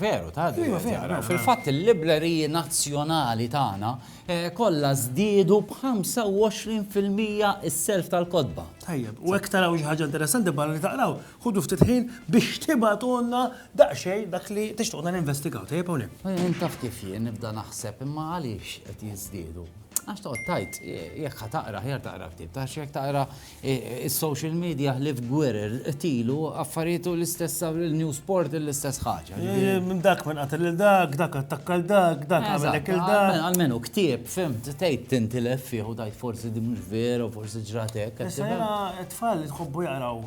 Veru, ta' din Iva, qed veru, jaqraw. veru, Fil-fatt il-libreriji nazzjonali tagħna eh, kollha żdiedu b'25 fil-mija s-self tal-kotba. Tajjeb, u hekk taraw xi ħaġa interessanti barra li taqraw, ħudu ftit ħin biex tibagħtulna daqsxejn dak li tixtuqna ninvestigaw. Tajjeb hawn hemm. Eh, Int taf kif jien nibda naħseb imma għaliex qed jiżdiedu? Għax toqgħod tajt eh, jekk ħa taqra ħjar taqra ktieb, ta' jekk taqra Is-social media ħlief gwerer, qtilu, affarijiet u l-istess sa l-news portal l-istess ħaġa. Minn dak minn qatel lil dak, dak attakka lil dak, dak għamel hekk lil dak. Almenu ktieb, fimt, tgħid tintilef fih u tgħid forsi din mhux vera u forsi ġrat hekk. Issa jiena t-tfal li tħobbu jaqraw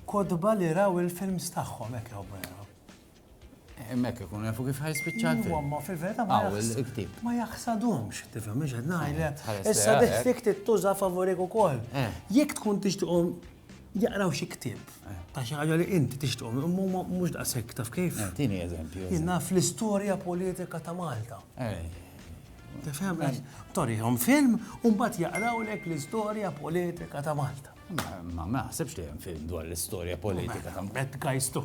kotba li raw il-films tagħhom hekk jħobbu jaqraw. Hemmhekk ikun jafu kif ħajspiċċa l-film. Huwa ma fi vera ma Hawn jaħs- il-ktieb. ma jaħsadhomx, tifhem mhux qed ngħidlek. Tħares Issa lejha, dih eh? fik tittuża favorik ukoll. Eh. Jekk tkun tixtiqhom jaqraw xi ktieb ta' xi ħaġa li inti tixtiqhom, imma huma mhux daqshekk taf kif. Eh, Tini eżempju. Jien naf l-istorja politika ta' Malta. Eh, Tifhem? Torihom film u mbagħad jaqrawlek l-istorja politika ta' Malta. Ma ma naħsibx li hemm film dwar l-istorja politika ta' Bad guys too.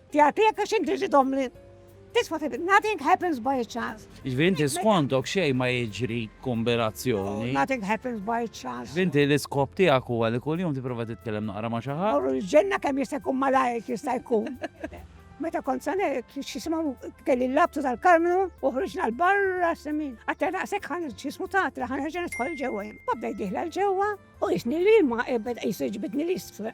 Jagħtik għax inti xi tgħommli. This what it is. Nothing happens by chance. Jiġifieri inti skontok xejn ma jiġri kombinazzjoni. Nothing happens by chance. Inti l-iskop tiegħek huwa li kuljum tipprova titkellem naqra ma' xi ħadd. Morru l-ġenna kemm jista' jkun malajr jista' jkun. Meta kont sa ngħid x'jisimgħu kelli l-labtu tal-Karmnu u ħriġna l-barra semin. Għatta naqsek ħan x'jismu tatla ħan ħerġa nidħol ġewwa. Babda jdieħla l-ġewwa u jisni li ma ebed qis iġbidni l-isfel.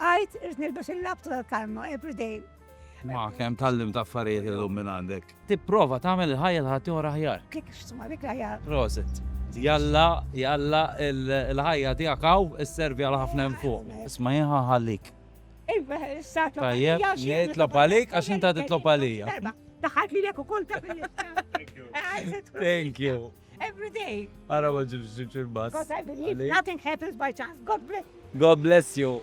Għidt irid nilbes il-labtu tal-kalma every day. Ma kemm tallimt affarijiet illum minn għandek. Tipprova tagħmel il-ħajja ta' ħaddieħor aħjar. Kif isma' dik l-aħjar. Prosit. Jalla, jalla il-ħajja tiegħek hawn isservi għal ħafna hemm fuq. Isma' jien ħa nħallik. Iva, issa tlob għalija. Tajjeb, jien nitlob għalik għax inta titlob għalija. Daħalt lilek ukoll ta' Thank you. Every day. Ara ma ġibx ġibx il-bus. Because I believe nothing happens by chance. God bless. God bless you.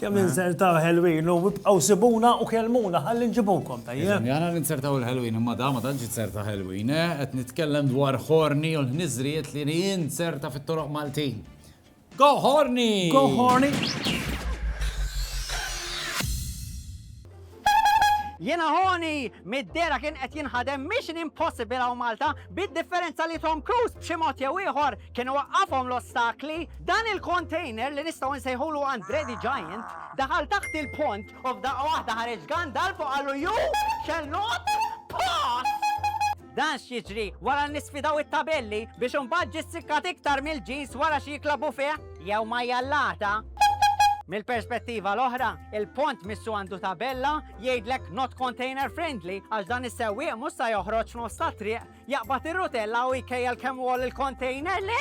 Kemm insertaw Halloween u bibqgħu sibuna u kelmuna ħalli nġibukom tajjeb. Jana ninsertaw il-Halloween imma da ma tantx inserta Halloween, eh? qed nitkellem dwar ħorni u l-ħniżriet li ninserta fit-toroq Maltin. Go horny! Go horny! Jena ħoni, mid-dera kien qed jinħadem Mission Impossible għaw Malta, bid-differenza li Tom Cruise b'xi mod jew ieħor kien waqqafhom l-ostakli, dan il-container li nistgħu nsejħulu Andre the Giant, daħal taħt il-pont u f'daqqa waħda ħareġ gandal fuq għallu ju xellot pass! Dan x'jiġri wara li sfidaw it-tabelli biex imbagħad ġie ssikkat iktar mill-ġins wara xi klabu fih jew ma jallata. Mill-perspettiva l-oħra, il-pont missu għandu tabella jgħidlek not container friendly għax dan is-sewwieq mhux sa joħroġ f'nofs tat-triq, jaqbad ir-rutella u jkejjel kemm hu għoli l-kontejner li.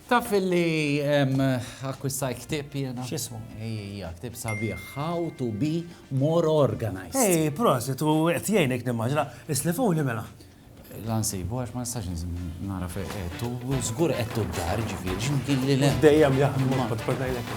Taf li akkwistajt ktieb jiena? X'ismu? Ejja, ktieb sabiħ, How to be more organized. Ej, prosit, u qed jgħinek nimmaġina. Islifuli mela. La nsibu għax ma nistax nara fejn qed u żgur qed d-dar ġifieri x'imkien li le. Dejjem jaħdmu, kont kont ngħidlek.